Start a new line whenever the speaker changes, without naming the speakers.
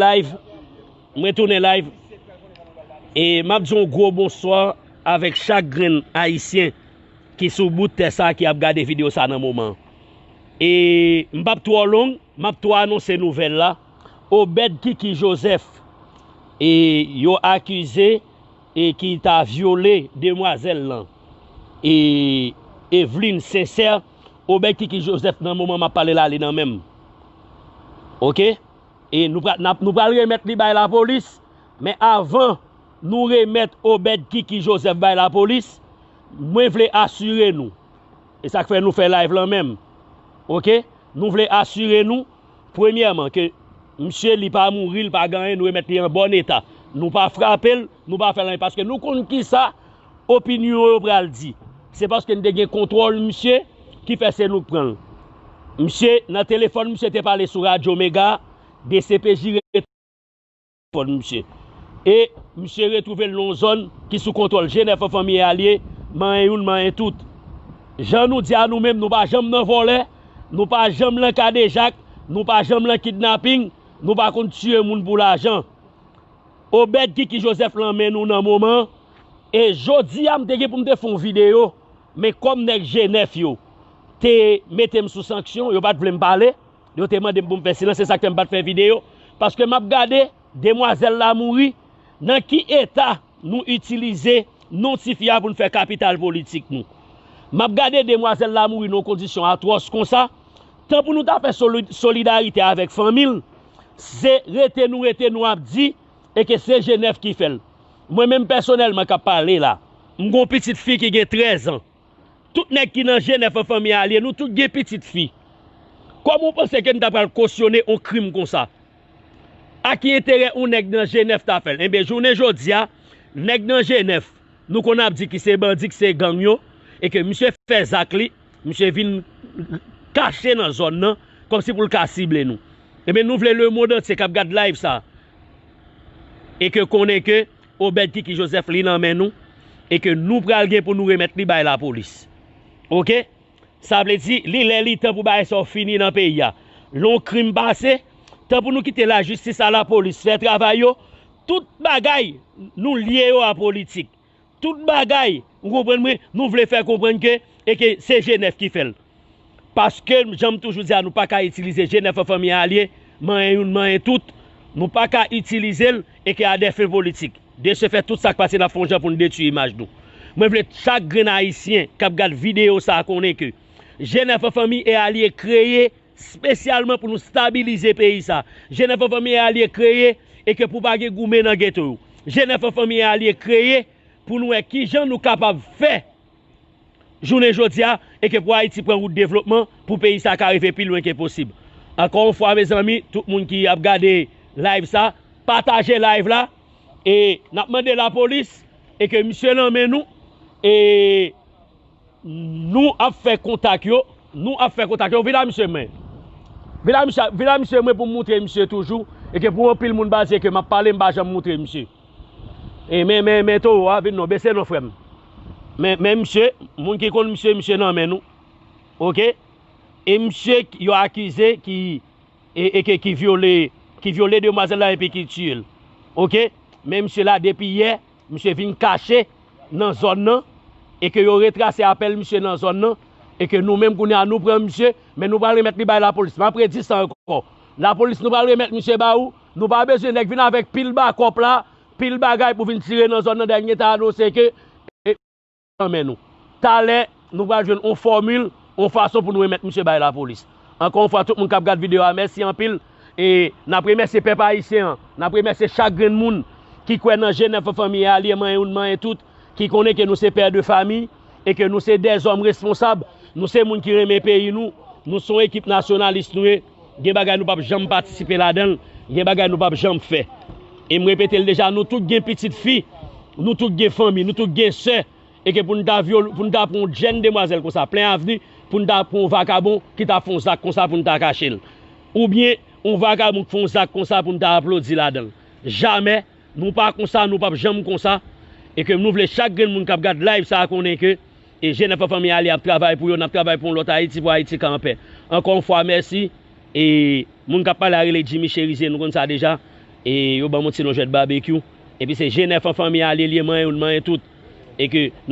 Live, m retounen live e m ap di yon gwo bonswa avèk chak grenn ayisyen ki sou bout tè sa ki ap gade videyo sa nan moman e m p ap twò long m ap tou anonse nouvèl la Obed Kiki Joseph e yo akize e ki ta vyole demwazèl lan e Eveline Sincère Obed Kiki Joseph nan moman m ap pale la li nan men m ok. E nou pral nou pral remèt li bay lapolis men avan nou remèt Obed Kiki Joseph bay lapolis mwen vle asire nou e sak fè nou fè live lan menm ok nou vle asire nou premyèman ke misye li pa mouri li pa gen anyen nou remèt li an bòn eta nou pa frapel Nou pa fè l anyen paske nou konn kisa opinyon yo pral di. Se paske n te gen kontwòl misye ki fè se nou k pran l. Misye nan telefòn misye te pale sou radyo mega, dcpj rete nan telefòn misye. E misye retwouve l nan yon zòn ki sou kontwòl je nèf an fanmiye a l ye, manyen youn manyen tout. Jan nou di a nou menm nou pa janm nan vòlè, nou pa janm lan kadejak, nou pa janm lan kidnaping, nou pa konn tiye moun pou lajan. Obed kiki Joseph lan men nou nan moman e jodia m te gen pou m te fon video men kòm nèg G9 yo te metem sou sanksyon yo pat vlem pale yo te mandem pou m fè silans se sak fè m pat fè video paske map gade demwazèl la mouri nan ki eta nou itilize non tifi a pou n fè kapital politik nou map gade demwazèl la mouri nan yon kondisyon atwòs konsa tan pou nou ta fè solidarite avèk fanmil Se rete nou rete nou ap di e ke se Jenèf ki fè l. Mwen menm pèsonèlman k ap pale la, m gon pitit fi ki gen 13 an. Tout nèg ki nan Jenèf an fanmi a lye, nou tout gen pitit fi. Kòman ou panse ke n ta pral kosyone on krim konsa? A ki enterè on nèg nan Jenèf ta fè l? Enben, jounen jodi a, nèg nan Jenèf, nou konn ap di ki se bandi, ki se gang yo, e ke misye fè zak li, Misye vin kache nan zòn nan kòmsi pou l ka sible nou. Ebyen nou vle lemond antye k ap gad live sa e ke konnen ke Obed Kiki Joseph li nan men nou e ke nou pral gen pou nou remèt li bay lapolis. Ok? Sa vle di li lè li tan pou bagay sa yo fini nan peyi a. Lè yon krim pase, tan pou nou kite lajistis a lapolis fè travay yo, tout bagay nou lye yo a politik. Tout bagay, ou konprann mwen, nou vle fè konprann ke e ke se G9 ki fè l. Paske m jan m toujou di a nou pa ka itilize G9 an fanmi a lye, manyen youn manyen tout, nou pa ka itilize l e ke a dè fen politik. De se fèt tout sa k pase n ap fè yon jan pou n detui imaj nou. Mwen vle chak grenn ayisyen k ap gad videyo sa konnen ke G9 an fanmi e alye kreye. spesyalman pou nou stabilize peyi sa Jenèf an Fanmi e Alye kreye e ke pou pa gen goumen nan geto yo Jenèf an Fanmi e Alye kreye pou nou wè ki jan nou kapab fè jounen jodi a e ke pou Ayiti pran wout devlopman pou peyi sa ka rive pi lwen ke posib ankò yon fwa mezanmi tout moun ki ap gade live sa pataje live la e n ap mande lapolis e ke misye nan men nou e. Nou ap fè kontak yo. Nou ap fè kontak yo. Vin a misye men. Vin a misye. Vin a misye mwen pou m moutre misye toujou. E ke pou anpil moun pa di e ke m ap pale m pa janm moutre misye. E men men men towo a vin non. Bese non frè m. Men men misye. Moun ki konn misye misye nan men nou. Ok. E misye yo akize ki e ke ki vyole ki vyole demwazel la e pi ki tiye l. Ok. Men misye la depi yè. Misye vin kache nan zòn nan e ke yo retrase apèl misye nan zòn nan e ke nou menm kounye a nou pran misye men nou pral remèt li bay lapolis map redi sa ankò lapolis nou pral remèt misye ba ou nou pa bezwen nèg vin avèk pil bakòp la pil bagay pou vin tire nan zòn nan dènye ta anonse ke nan men nou. Talè, nou pral jwenn yon fòmil, yon fason pou nou remèt misye bay lapolis. Ankò yon fwa tout moun k ap gad videyo a mèsi anpil. E n ap remèsye pèp ayisyen an, n ap remèsye chak grenn moun ki kwè nan jenèf an fanmi e alye manyen youn manyen tout, ki konnen ke nou se pè de fami e ke nou se dèzòm responsab, nou se moun ki renmen peyi nou, nou se yon ekip nasyonalis nou ye. Gen bagay nou pap janm patisipe ladan l, gen bagay nou pap janm fè. E m repete l deja, nou tout gen pitit fi, nou tout gen fanmi, nou tout gen sè, e ke pou n ta vyole, pou n ta pran yon jenn demwazèl konsa plen avni, pou n ta pran yon vakabon ki ta fè yon zak konsa pou n ta kache l. Oubyen yon vakabon k fè yon zak konsa pou n ta aplodi ladan l. Jamè! Nou pa konsa nou pap janm konsa e ke nou vle chak grenn moun kap gad live sa konnen ke e jenèf an fanmi ale ap travay pou yo nap travay pou yon lòt ayiti pou ayiti ka anpè ankò yon fwa mèsi e moun kap pale a rele jimmy cherizier nou konn sa deja e yo banm yon ti non jwèt babekyou epi se jenèf an fanmi ale liye manyen yon manyen tout e ke